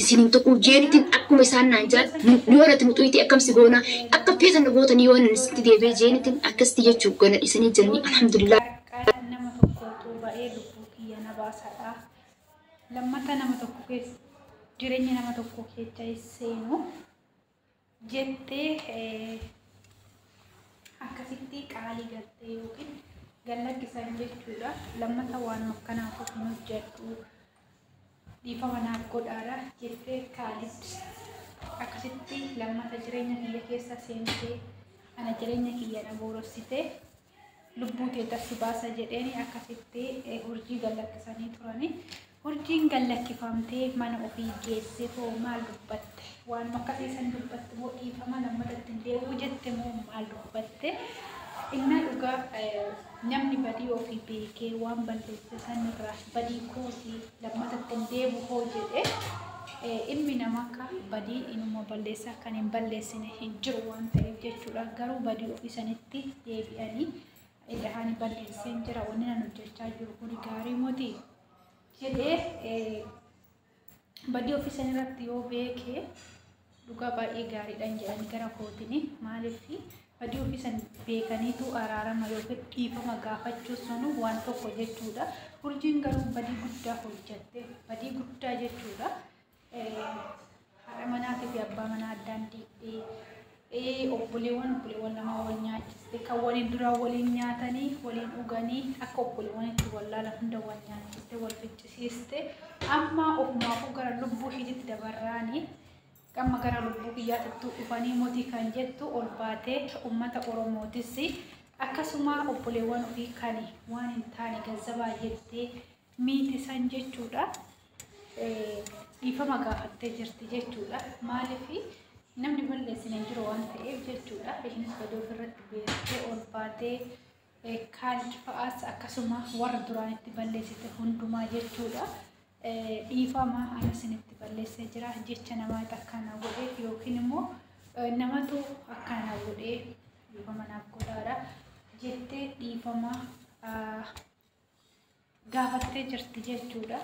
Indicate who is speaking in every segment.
Speaker 1: isin hin tuquu jeettin akkuma isaan naan jedhan nu yoo nati muxuyxee akkam si goona akka feetan na gootanii yoo nan isinitti deebi'e jeenitin akkasitti jechuu gana dhisanii jiranii alhamdulillah Qaaqaan nama
Speaker 2: tokkootu ba'ee lubbuu kiyya na baasadha. Lammata nama tokko keessa jireenya nama tokko keessa seenu. jettee akkasitti qaalii galtee yookiin gallakkisan jechuudha. Lammata waan akkanaa tokko hin hojjedhu dhiifama naaf godhaadha jettee Kaalid akkasitti lammata jireenya kiyya keessa seentee ana jireenya kiyya na boorossitee lubbuu teeta si baasa jedheeni akkasitti hurjii gallakkisanii turani. Hurjiin gallakkifamtee mana ofii geesse hoo maal dubbatte? Waan akkasii san dubbatte moo dhiifama lammata ittiin deebi'u jette moo maal dubbatte? Innaa dhugaa namni badii ofii beekee waan balleesse sanirraa badii kootii lammata itti hin deebu hoo jedhe ilmi namaa akka badii inuma balleessaa kan hin balleessine hin jiru waan ta'eef jechuudha garuu badii ofii sanitti deebi'anii ida'anii balleesseen jira wanni nan hojjechaa jiru kun gaarii moti jedhee Badii ofii san irratti yoo beeke dhugaa baay'ee gaariidhaan jedhanii gara kootini maaliif badii ofii san beekaniitu araarama yookiin dhiifama gaafachuu sanu waan tokko jechuudha. Urjiin garuu badii guddaa hojjatte badii guddaa jechuudha. Haadha manaatii fi abbaa manaa addaan diigdee Ee obboleewwan, obboleewwan lama wal nyaachiste, kan waliin duraan waliin nyaatanii, waliin dhuganii, akka obboleewwan itti wal laalan hunda wal nyaachiste, wal ficcisiiste, amma ofumaafuu gara lubbuu ishiititti dabarraanii, amma gara lubbuu kiyyaatittuu dhufanii motii kan jettu ol baatee ummata Oromootis akkasuma obboleewwan ofii kan waan hin taane gazzabaa jettee miiti san jechuudha. Dhiifama gaafattee jirti jechuudha. Maaliif namni balleessin hin jiru waan ta'eef jechuudha. Ishiinis badii ofirratti beektee ol baatee kaan fa'aas akkasuma warra duraan itti balleessite hundumaa jechuudha. Dhiifama ani isinitti balleessee jira jecha namaa takkaana godhe yookiin immoo namatu akkaana godhe dhiifama naaf godhaadha jettee dhiifama gaafattee jirti jechuudha.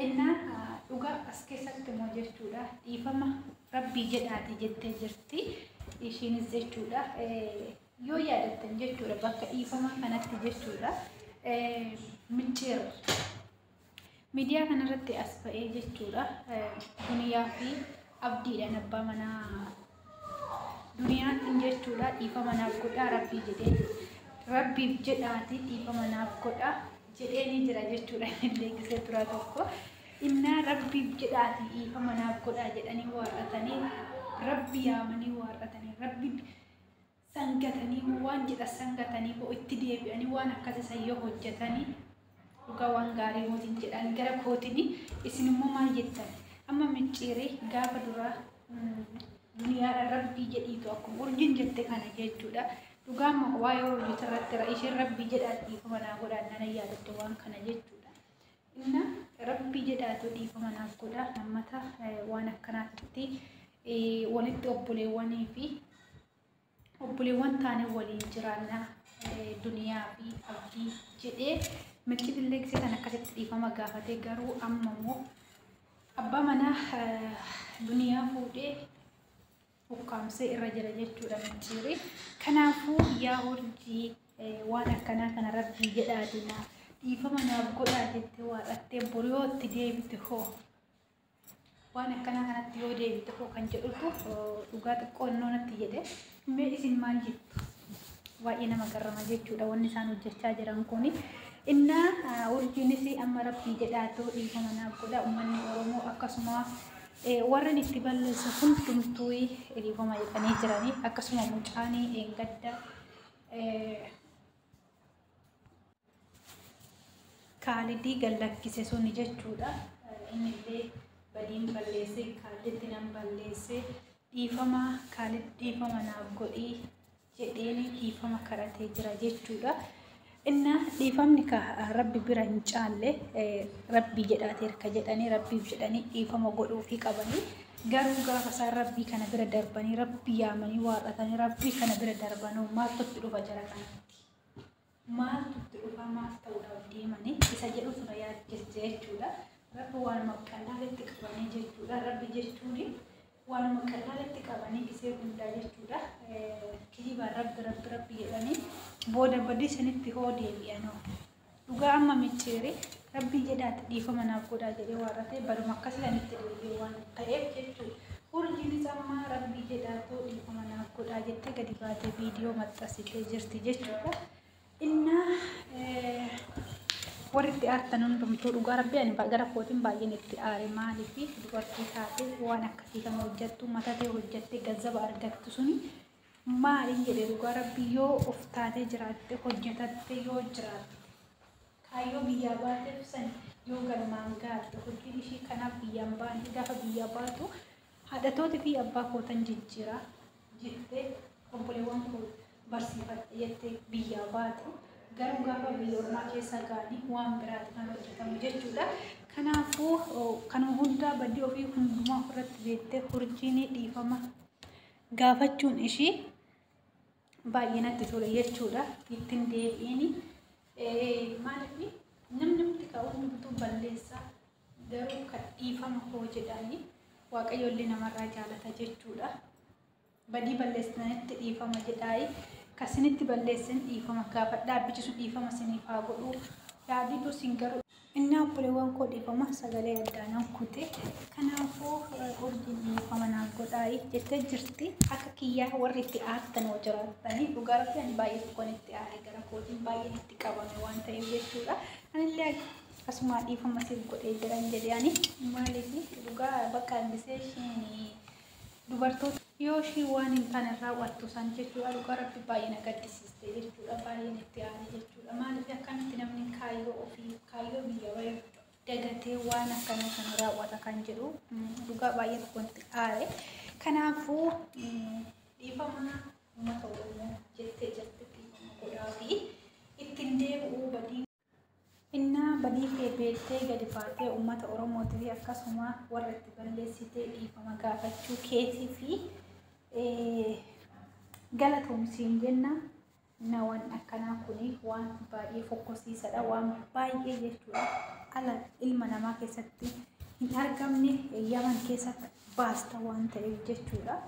Speaker 2: Innaa dhugaa as keessatti immoo jechuudha dhiifama rabbii jedhaati jettee jirti ishiinis jechuudha yoo yaadattan jechuudha bakka dhiifama kanatti jechuudha micciir miidiyaa kanarratti as ba'ee jechuudha duniyaa fi abdiidhaan abbaa manaa Duniyaan hin jechuudha dhiifama naaf godhaa rabbii jedhee jedhe. Rabbiif jedhaati dhiifama naaf godhaa jedhee ni jira jechuudha illee gisee turaa tokko. Innaa rabbiif jedhaati dhiifama naaf godhaa jedhanii waarratanii rabbi yaamanii waarratanii rabbi San gatanii moo waan jedhan san gatanii moo itti deebi'anii waan akkasii san yoo hojjatanii dhugaa waan gaarii mootiin jedhan gara kootini isin immoo maal jettan amma micciirii gaafa duraa duniyaadhaan rabbii jedhiitu akkuma urjiin jette kana jechuudha dhugaa amma waa'ee urjiitu irratti isheen rabbii jedhaan dhiifama naa godhaan nana yaadatte waan kana jechuudha. Inna rabbii jedhaatu dhiifama naaf godha hammata waan akkanaatitti walitti obboleewwanii fi obboleewwan taanee waliin jiraanna duniyaa fi abdii jedhee milkii dilleeksee kan akkasitti dhiifama gaafatee garuu amma immoo abbaa manaa duniyaa fuudhee ukkaamsee irra jira jechuudha micciiri. Kanaafuu yaa urjii waan akkanaa kana rabbii jedhaati naa dhiifama naaf godhaa jettee waaqattee bor yoo itti deebite hoo waan akkanaa kanatti yoo deebite hoo kan jedhutu dhugaa xiqqoo innoo natti jedhe mee isin maal jettu baay'ee nama garrama jechuudha wanni isaan hojjechaa jiran kuni. Innaa urjiinis amma rabbii jedhaatu dhiifama naaf godha uummanni Oromoo akkasuma Warren itti balleesse hundumtuu dhiifama jedhanii jiranii akkasuma mucaan gadda kaalidii gallakkise suni jechuudha. Innillee badiin balleessee kaaliditti nan balleessee dhiifama kaalid dhiifama naaf godhii jedheenii dhiifama kadhatee jira jechuudha. Innaa dhiifamni ka rabbi bira hin caalle rabbii jedhaateer ka jedhanii rabbiif jedhanii dhiifama godhuufii qabanii garuu gaafa isaan rabbii kana bira darbanii rabbii yaamanii waaqatanii rabbii kana bira darbanoo maaltu itti dhufa jara kanatti. maaltu itti dhufaa maaf ta'uudhaaf deemanii isa jedhu fira yaaddeessa jechuudha. Rabbi waanuma qallaalitti qabanii jechuudha. Rabbi jechuun waanuma qallaalitti qabanii dhisee hundaa jechuudha. Kijibaan rabbi rabbi rabbi jedhanii booda badii sanitti hoo deebi'anoo. Dhugaa amma micciiri Rabbii jedhaati dhiifama naaf godhaa jedhee waarrate baduma akkasiidhaan itti deebi'e waan ta'eef jechuudha. Urjiinis amma Rabbii jedhaatoo dhiifama naaf godhaa jettee gadi baatee viidiyoo maxxansitee jirti jechuudha. Innaa warri itti aartan hundumtuu dhugaa rabbii ani ba- gara kootiin baay'een itti aare maaliif dubartii taate waan akkasii kan hojjettu mata ta'e hojjettee gazzaba argattu suni Maalin jedhe dhugaa rabbii yoo of taatee jiraatte hojjetatte yoo jiraatte kaayyoo biyyaa baateef san yoo galmaan gaatte hojiin ishii kanaaf biyyaan baante gaafa biyyaa baatu haadhatooti fi abbaa kootan jijjiira jette obboleewwan koo barsiifadhe jette biyyaa baate garuu gaafa biyya ormaa keessa gaani waan biraati kan hojjetamu jechuudha. Kanaafuu kanuma hundaa badii ofii hundumaa ofirratti beektee hurjiinii dhiifama gaafachuun ishii baay'ee natti tole jechuudha. Ittiin deebi'ini maaliif namni hundi ka'u hundumtuu balleessaa garuu kan dhiifama koo jedhani waaqayyo illee namarraa jaalata jechuudha. Badii balleessitanitti dhiifama jedhaayi. Kan isinitti balleessin dhiifama gaafadhaa. Bichisu dhiifama isiniif haa godhu. Yaaditu isin garuu Innaa obboleewwan koo dhiifama sagalee addaa nan kute kanaafuu urjiin dhiifama naaf godhaayi jettee jirti akka kiyyaa warri itti aartan hoo jiraattanii dhugaa rabbi ani baay'ee tokkoon itti aare gara kootiin baay'een itti qabame waan ta'eef jechuudha anillee akkasumaa dhiifama siif godhee jiran jedhe ani maaliif dhugaa bakka hambisee isheen dubartoota yoo ishii waan hin taane raawwattu san jechuudha dhugaa rabbi baay'ee na gaddisiiste jechuudha baay'een itti aane jechuudha maaliif akkamitti namni kaayyoo ofii kaayyoo biyya wayii dagatee waan akkana kana raawwata kan jedhu dhugaa baay'ee tokko itti aare kanaafuu dhiifama uummata oromoo jettee jirti dhiifama godhaa fi ittiin deebi'uu badii Innaa badii kee beektee gadi baatee uummata Oromootii fi akkasuma warra itti balleessitee dhiifama gaafachuu keetii fi galatoomsiin jenna nawan akkanaa kun waan baay'ee fokkosiisadha waan baay'ee jechuudha ala ilma namaa keessatti hin argamne yaman keessatti baasta waan ta'eef jechuudha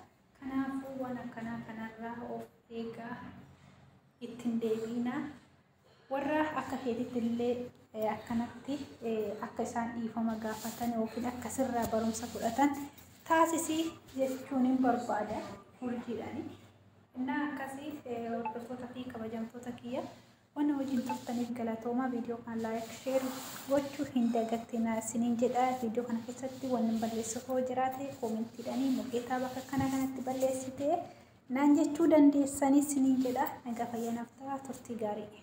Speaker 2: kanaafuu waan akkanaa kanarraa of eegaa ittiin deebiinaa Warra akka keetitti illee eh, akkanatti eh, akka isaan dhiifama gaafatan yookiin akka sirraa barumsa fudhatan taasisi jechuun hin barbaada urjiidhaani. Innaa akkasii eh, hordoftoota fi kabajamtoota kiyya wanna wajjin turtaniif galatoomaa viidiyoo kan laayik sheer gochuu hin dagatinaa isiniin jedha viidiyoo kana keessatti wanni balleessuuf hoo jiraate koomentiidhaanii mukeetaa bakka kana kanatti balleessitee Naan jechuu dandeessanii sinin jedha naga fayya naf ta'a turtii gaarii.